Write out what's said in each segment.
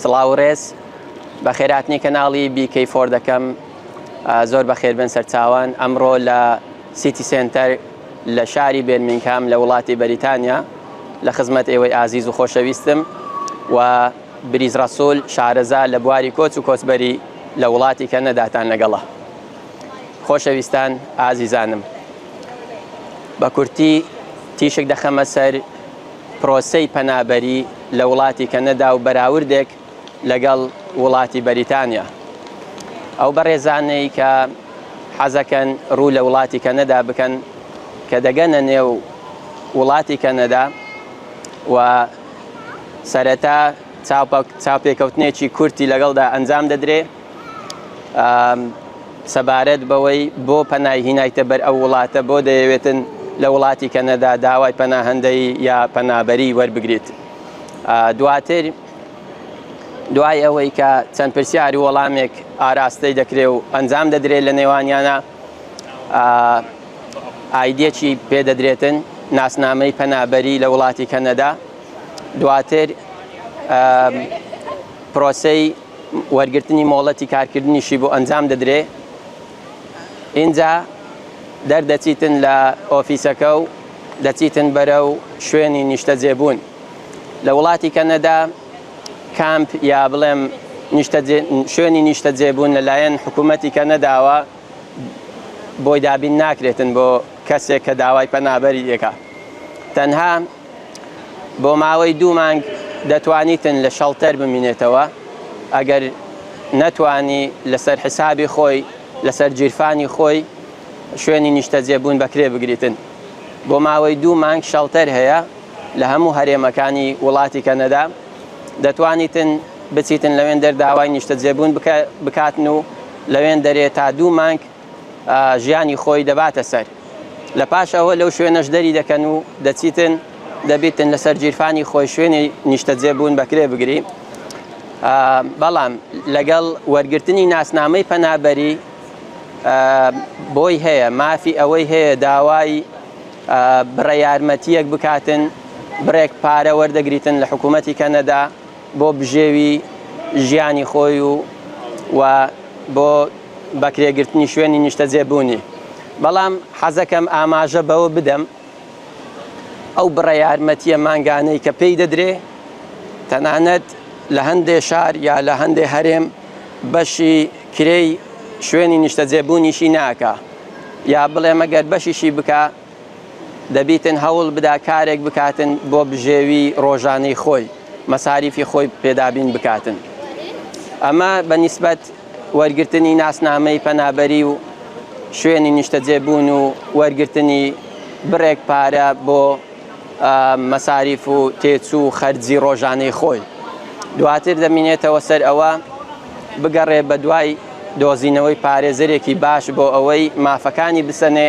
سڵاو و ڕێز. بەخێرهاتنی کەناڵی BK Four دەکەم. زۆر بەخێربێن سەرچاوان. ئەمڕۆ لە سیتی سێنتەر لە شاری بێرمینگهام لە وڵاتی بەریتانیا لە خزمەت ئێوەی ئازیز و خۆشەویستم و بریز ڕەسول شارەزا لە بواری کۆچ و کۆچبەری لە وڵاتی کەنەداتان لەگەڵە. خۆشەویستان ئازیزانم. بە کورتی تیشک دەخەمە سەر. پرۆسەی پەنابەری لە وڵاتی کەنەدا و بەراوردێک لەگەڵ وڵاتی بەریتانیا ئەو بەڕێزانەی کە حەزەکەن ڕوو لە وڵاتی کەنەدا بکەن کە دەگەنە نێو وڵاتی کەنەدا و سەرەتا چاپێکەوتنێکی کورتی لەگەڵدا ئەنجام دەدرێ سەبارەت بەوەی بۆ پەنای هینایتە بەر ئەو وڵاتە بۆ دەیەوێتن لە وڵاتی کەنەدا داوای پەناهندەی یا پەنابەری وەربگریت دواتر دوای ئەوەی کە چەند پرسیار و وەڵامێک ئاراستەی دەکرێ و ئەنجام دەدرێت لە نێوانیانە ئایدێکی پێدەدرێتن ناسنامەی پەنابەری لە وڵاتی کەنەدا دواتر پرۆسی وەرگرتنی مۆڵەتی کارکردنیشی بۆ ئەنجام دەدرێ ئینجا دەردەچیتن لە ئۆفیسەکە و دەچیتن بەرە و شوێنی نیشتەجێبوون لە وڵاتی کەنەدا کامپ یا بڵێم شوێنی نیشتەجێبوون لەلایەن حکوومەتی کەنەداوە بۆی دابین ناکرێتن بۆ کەسێک کە داوای پەنابەری دەکە تەنها بۆ ماوەی دوو مانگ دەتوانیتن لە شەڵتەر بمینێتەوە ئەگەر نەتوانی لەسەر حسابی خۆی لەسەر جیرفانی خۆی شوێنی نیشتەجێبوون بەکرێ بگریتن بۆ ماوەی دوو مانگ شەڵتەر هەیە لە هەموو هەرێمەکانی وڵاتی کەنەدا دەتوانیتن بچیتن لەوێن دەر داوای نیشتەجێبوون بکاتن و لەوێن دەرێ تا دوو مانگ ژیانی خۆی دەباتە سەر. لە پاش ئەوە لەو شوێنەش دەری دەکەن و دەچیتن، دەبیتن لەسەر گیرفانی خۆی شوێنی نیشتەجێ بوون بەکرێ بگری. بەڵام لەگەڵ وەرگرتنی ناسنامەی پەنابەری بۆی هەیە، مافی ئەوەی هەیە داوای بڕە یارمەتییەک بکاتن، بڕێک پارە وەردەگریتن لە حکوومەتی کەنەدا، بۆ بژێوی ژیانی خۆی و و بۆ بەکرێگرتنی شوێنی نیشتەجێ بوونی بەڵام حەزەکەم ئاماژە بەوە بدەم ئەو بڕە یارمەتیە مانگانەی کە پێی دەدرێ تەنانەت لە هەندێ شار یا لە هەندێ هەرێم بەشی کرێی شوێنی نیشتەجێبوونیشی ناکە یا بڵێ مەگەر بەشیشی بکە دەبیتن هەوڵ بدا کارێک بکاتن بۆ بژێوی ڕۆژانەی خۆی مەساریفی خۆی پێدابین بکاتن ئەمە بە نیسبەت وەرگرتنی ناسنامەی پەنابەری و شوێنی نیشتەجێبوون و وەرگرتنی بڕێک پارە بۆ مەساریف و تێچوو و خەرجی ڕۆژانەی خۆی دواتر دەمینێتەوە سەر ئەوە بگەڕێ بە دوای دۆزینەوەی پارێزەرێکی باش بۆ ئەوەی مافەکانی بسەنێ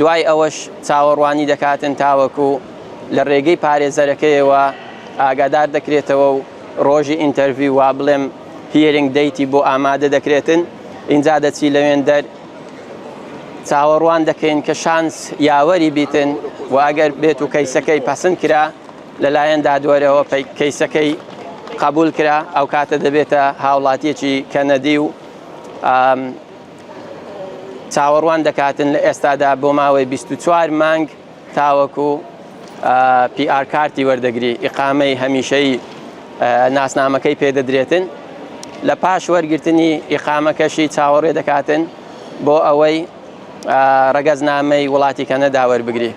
دوای ئەوەش چاوەڕوانی دەکاتن تاوەکو لە رێگەی پارێزەرەکەیەوە ئاگادار دەکرێتەوە و رۆژی ئینتەرڤیو وا بڵێم هیرینگ دەیتی بۆ ئامادە دەکرێتن ئینجا دەچی لەوێن دەر چاوەڕوان دەکەین کە شانس یاوەری بیتن و ئەگەر بێت و کەیسەکەی پەسند کرا لەلایەن دادوەرەوە کەیسەکەی قبول کرا ئەو کاتە دەبێتە هاوڵاتیەکی کەنەدی و چاوەڕوان دەکاتن لە ئێستادا بۆ ماوەی 24 مانگ تاوەکو PR کارتی وەردەگری ئیقامەی هەمیشەی ناسنامەکەی پێدەدرێتن لە پاش وەرگرتنی ئیقامەکەشی چاوەڕێ دەکاتن بۆ ئەوەی ڕەگەزنامەی وڵاتی کەنەدا وەربگری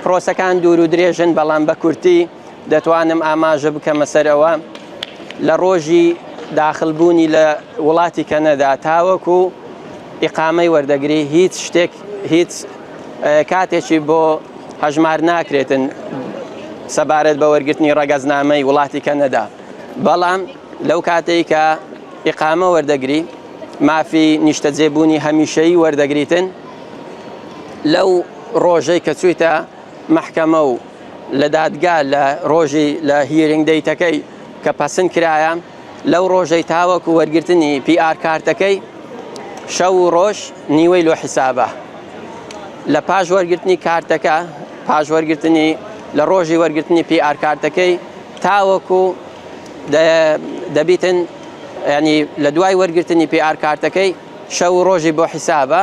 پرۆسەکان دوور و درێژن بەڵام بە کورتی دەتوانم ئاماژە بکەمە سەر ئەوە لە ڕۆژی داخلبوونی لە وڵاتی کەنەدا تاوەکو ئیقامەی وەردەگری هیچ شتێک هیچ کاتێکی بۆ هەژمار ناکرێتن سەبارەت بە وەرگرتنی ڕەگەزنامەی وڵاتی کەنەدا بەڵام لەو کاتێک کە ئیقامە وەردەگری مافی نیشتەجێبوونی هەمیشەی وەردەگریتن لەو ڕۆژەی کە چویتە مەحکەمە و لە دادگا لە ڕۆژی لە هیرینگ دەیتەکەی کە پەسند کرایە لەو ڕۆژەی تاوەکو وەرگرتنی پی ئار کارتەکەی شەو و ڕۆژ نیوەی لۆ حیسابە لە پاش وەرگرتنی کارتەکە پاش وەرگرتنی لە ڕۆژی وەرگرتنی پی ئار کارتەکەی تاوەکو دەبیتن ینی لە دوای وەرگرتنی پی ئار کارتەکەی شەو و ڕۆژی بۆ حیسابە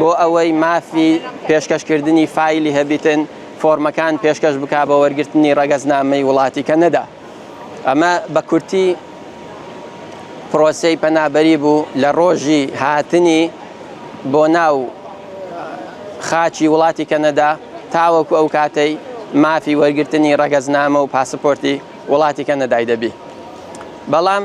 بۆ ئەوەی مافی پێشکەشکردنی فایلی هەبیتن فۆرمەکان پێشکەش بکا بۆ وەرگرتنی ڕەگەزنامەی وڵاتی کەنەدا. ئەمە بە کورتی پرۆسەی پەنابەری بوو لە ڕۆژی هاتنی بۆ ناو خاکی وڵاتی کەنەدا تاوەکو ئەو کاتەی مافی وەرگرتنی ڕەگەزنامە و پاسپۆرتی وڵاتی کەنەدای دەبی. بەڵام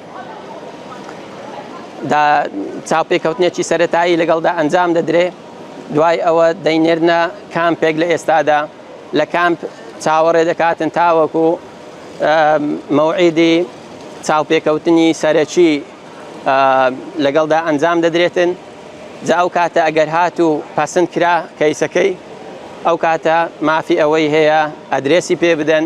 دا چاوپێکەوتنێکی سەرەتایی لەگەڵدا ئەنجام دەدرێ دوای ئەوە دەینێرنە کامپێک لە ئێستادا لە کامپ چاوەڕێ دەکاتن تاوەکو مەوعیدی چاوپێکەوتنی سەرەکی لەگەڵدا ئەنجام دەدرێتن جا ئەو کاتە ئەگەر هات و پسند کرا کەیسەکەی ئەو کاتە مافی ئەوەی هەیە ئەدرێسی پێ بدەن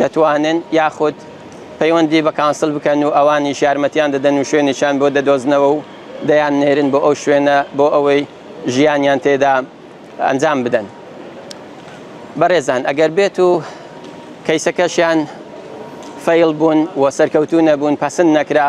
دەتوانن یاخود پەیوەندی بە کانسڵ بکەن و ئەوانیش یارمەتیان دەدەن و شوێنێکیان بۆ دەدۆزنەوە و دەیاننێرن بۆ ئەو شوێنە بۆ ئەوەی ژیانیان تێدا ئەنجام بدەن. بەڕێزان ئەگەر بێت و کەیسەکەشیان فەیڵ بوون و سەرکەوتوو نەبوون پەسند نەکرا،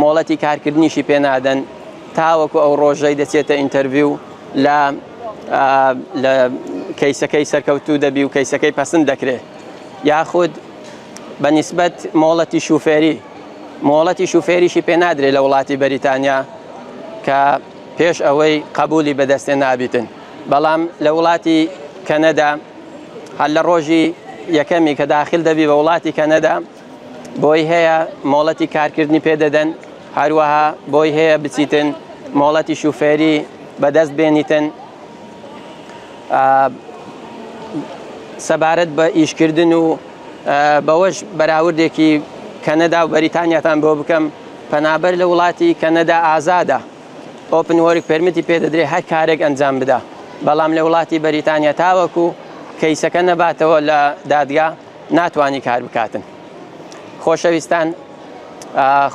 مۆڵەتی کارکردنیشی پێ نادەن تاوەکو ئەو ڕۆژەی دەچێتە ئینتەرڤیو لە لە کەیسەکەی سەرکەوتوو دەبی و کەیسەکەی پەسند دەکرێت یاخود بە نسبەت مۆڵەتی شوفێری مۆڵەتی شوفێریشی پێنادرێت لە وڵاتی بەریتانیا کە پێش ئەوەی قبولی بەدەستێ نابیتن بەڵام لە وڵاتی کەنەدا هەر لە ڕۆژی یەکەمی کە داخل دەبی بە وڵاتی کەنەدا بۆی هەیە مۆڵەتی کارکردنی پێدەدەن، هەروەها بۆی هەیە بچیتن مۆڵەتی شوفێری بەدەست بێنیتن. سەبارەت بە ئیشکردن و بەوەش بەراوردێکی کەنەدا و بەریتانیاتان بۆ بکەم پەنابەر لە وڵاتی کەنەدا ئازادە ئۆپن وەرک پرمتی پێدەدرێ هەر کارێک ئەنجام بدا بەڵام لە وڵاتی بەریتانیا تاوەکو کەیسەکە نەباتەوە لە دادگا ناتوانی کار بکاتن خۆشەویستان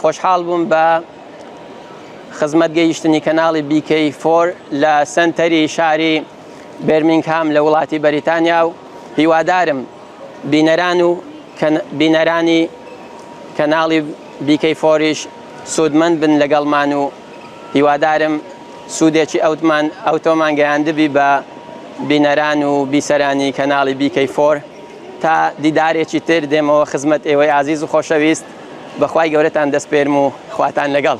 خۆشحاڵ بووم بە خزمەت گەیشتنی کەناڵی بیکەی فۆر لە سنتەری شاری بێرمینگهام لە وڵاتی بەریتانیا و هیوادارم بینەران و بینەرانی کەناڵی بیکەی فۆریش سوودمەند بن لەگەڵمان و هیوادارم سوودێکی ئەوتمان ئەوتۆمان گەیاندبی بە بینەران و بیسەرانی کەناڵی بیکەی فۆر تا دیدارێکی تر دێمەوە خزمەت ئێوەی ئازیز و خۆشەویست بە خوای گەورەتان دەسپێرم و خواتان لەگەڵ.